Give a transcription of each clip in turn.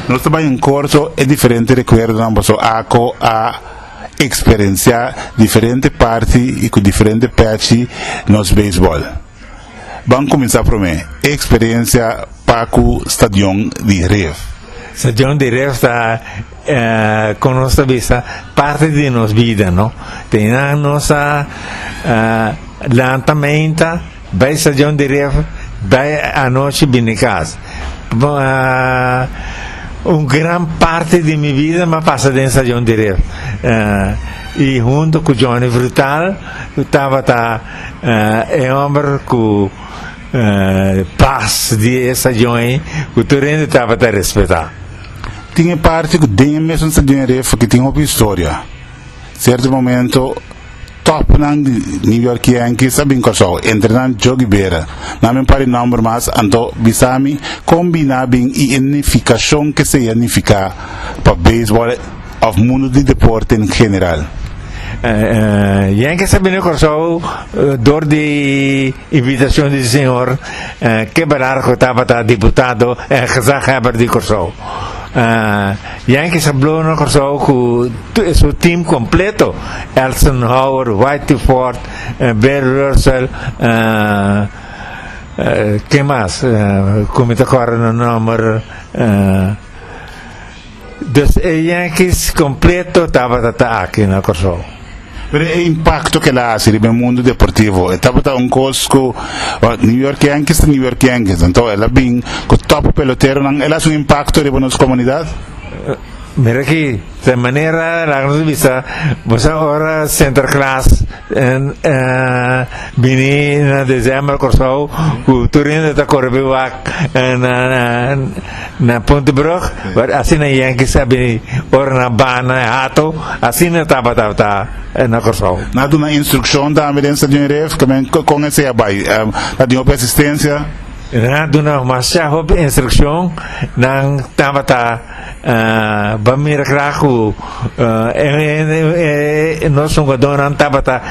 Nos ta bai en Corso e diferente recuerdonan boso ako a experencia diferente parti y cu diferente pechi nos baseball. Ban cuminsa prome e experencia pa cu stadion di Ref. Stadion di Ref ta. Kon nos ta bisa parti di nos bida, no? Te eynan nos a lanta meinta, bai stacion di ref, bai anochi bini cas. Un gran parti di mi bida m'a pasa den stacion di ref. Y hunto cu Johnny Frutal tabata e homber cu pas di e stacion ey cu tur hende tabata respeta. Tin e parti cu den e mes nos ta den'ré foque tin hopi historia. Cierto momento topnan di New York Yankees a bin Curaçao, entre nan Jogi Bera. Nan bin pari nomber mas, anto bisami con bina a bin y e nificacion que esey a nifica pa baseball of mundo di deporte en general. Yankees a bini Curaçao door di. Invitacion di Señor Keberar cu tabata diputado en gezaghebber di Corsou. Yankees a blow na Corsou cu su team completo, Elson Howard, Whitey Ford, Bear Russell, ken mas cu mi ta corda na nomber, Dus e Yankees completo tabata ta aki na Corsou. Pero e impacto cu el a haci riba e mundo deportivo e tabata un cos cu New York Yankees ta New York Yankees anto el a bin cu top peloteronan el a haci un impacto riba nos comunidad. Mira aki ta e manera laga nos bisa bo sa ora Sinterklaas. Bini na December Kòrsou ku tur hende ta kore pi wak na Puntebrug but asina Yankees a bini ora nan banda e hato asina tabata ta na Kòrsou. Nan a duna instrukshon tambe den stadion Ref kimen kon esei a bai ta tin hopi asistensia? Nan a duna masha hopi instrukshon nan tabata Ah, ba mira graag cu nos jugadornan tabata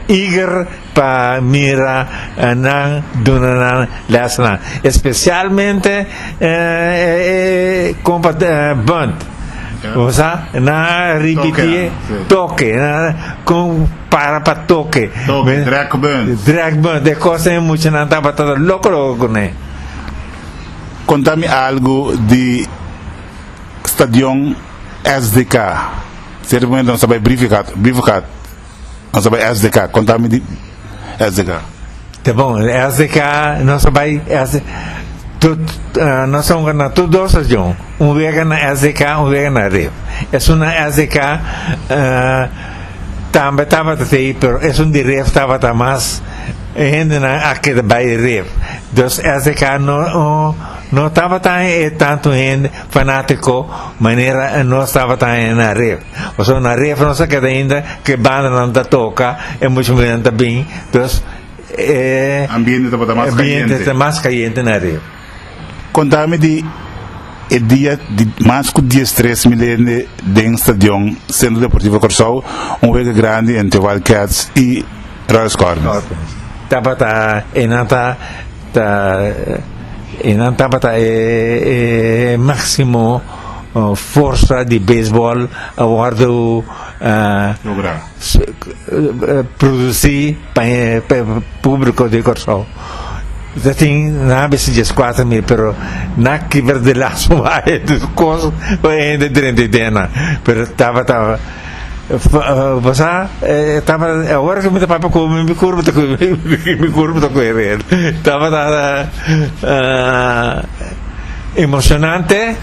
eager pa mira nan duna nan lesnan. Especialmente compa Bunt. O sea, na ripiti toke, con para pa toke. Toke, drag bunt. Drag bunt, e cosa e muchanan tabata loco loco cu ne. Conta mi algo di stadion SDK. Cierto momento nos ta bay Briefegaat, Briefegaat, nos ta bay SDK. Conta mi di SDK. Ta bon, SDK nos ta bay SD, tot, nos ta hunga na tot dos stadion, un wega na SDK, un wega na Rif. Esun na SDK tambe tabata te, pero esun di Rif tabata mas. E hendenan a keda bai ref. Dus SDK no no tabata haña e tantu hende fanátiko manera nos tabata haña na ref. Pasobra na ref nos a keda ainda ku e bandanan ta toka, e muchu muhernan ta bin, dus e ambiente tabata mas kayente. Ambiente ta mas kayente na ref. Konta mi di e dia di mas ku dies tres mi lende den stadion Centro Deportivo Kòrsou, un wega grandi entre Wildcats i Royal Scorpions. Tabata e nan ta ta e nan tabata e e maksimo forsa di beisbòl a wòrdu logra. Produci pa e publico di Corsou ta tin na bisti dies cuatro mil pero na kiber di laso bay cos bay hende drenta idea nan pero tabata bo sa tabata awor mi ta papia cu mi cur bo ta cu mi cur bo ta cu heren tabata emocionante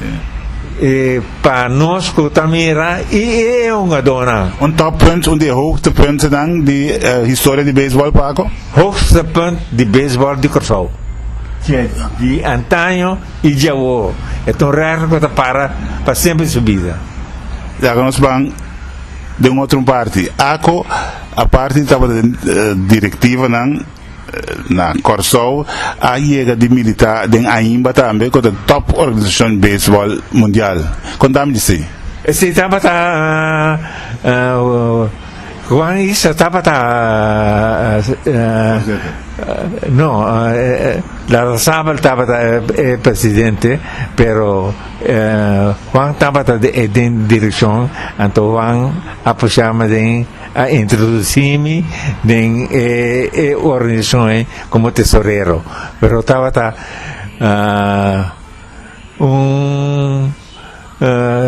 y Pa nos cu ta mira y e hungador nan. Un top punt, un di e hoogtepuntennan di historia di baseball Paco? Hoogstepunt di baseball di Curaçao. Di antaño y di awor. E ta un record cu ta para pa siempre di su bida. Ya cu nos ban den otro un parti. Aco, aparte di tabata den directivanan. Na Kòrsou a yega di militá den AIMBA tambe ku ta di tòp organisashon beisbòl mundial. Konta mi di si. Esei tabata Juan Isa tabata no Larrazabal tabata e presidente pero Juan tabata den direkshon anto Juan a pushá mi den A introdusí mi den e e organisashon ei komo tesorero, pero tabata un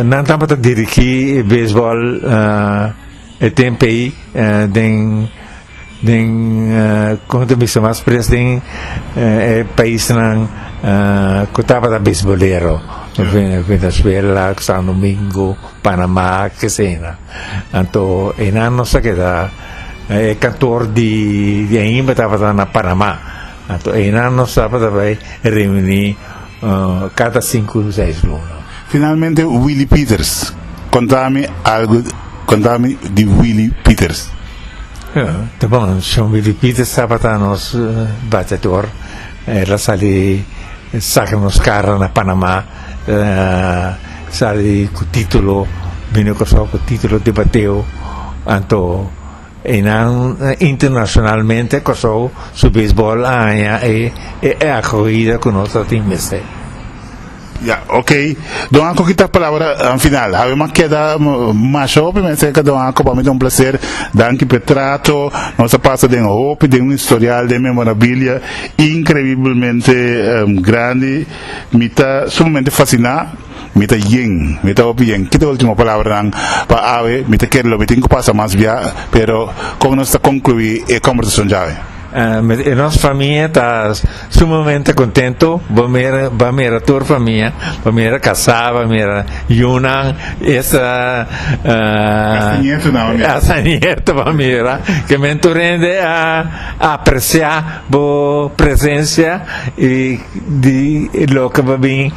nan tabata dirigí e beisbòl e tempu ei den den kon ta bisa mas pres den e paisnan ku tabata beisbolero, Venezuela, San Domingo, Panamá, kesei nan. Anto e nan nos a keda e kantor di di Aimba tabata na Panama. Anto e nan nos tabata bai reuní kada sinku di seis luna. Finalmente Willy Peters, konta mi algu konta mi di Willy Peters. Ta bon, Shon Willy Peters tabata nos bateador, el a sali saka nos kara na Panama. Sali ku titulo, bini Kòrsou ku titulo di bateo, anto einan internashonalmente Kòrsou su beisbòl a haña e akohida ku nos a tin mester. Ya, okey. Don Ako kita palabra final. Hawe mas keda masho pi mester ka Don Ako. Pa mi ta un plaser. Danki p'e trato. Nos a pasa den hopi, den un historial, den memorabilia increiblemente grandi. Mi ta sumamente fasciná, mi ta yen, mi ta hopi yen. Ki ta ultimo palabranan pa awe? Mi ta kere lo mi tin cu pasa mas bia, pero con nos ta conclui e combersacion djawe? E nos famia ta sumamente contento, bo mira, bo a mira tur famia, bo a mira casá, bo a mira yunan, esta, Hasta nieto nan bo a mira. hasta nieto bo a mira, que men tur hende a apreciá bo presencia y. di loke pa bin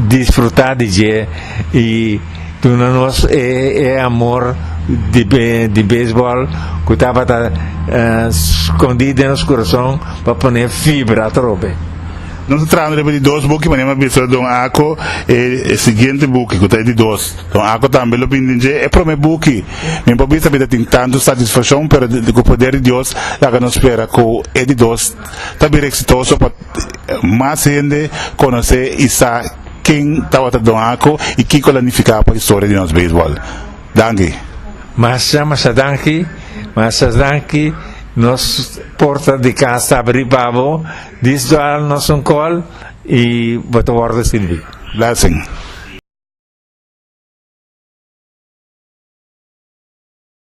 disfruta di dje y duna nos e amor di baseball cu tabata scondi den nos curason pa pone fibra atrobe. Nos a traha riba di dos buki, manera mi a bisa don Ako e siguiente buki cu ta e di dos. Don Ako tambe lo bin den dje e prome buki. Mi por bisa mi ta tin tantu satisfaccion pero cu poder di Dios laga nos spera cu e di dos. ta bira exitoso pa mas hende conoce y sa ken tabata Don Ako y kico la nifica pa historia di nos baseball. Danki. Masha masha danki, masha danki, nos porta di cas ta abri pa bo, dis dual nos un call y bo ta wordo sirbi. Blessing.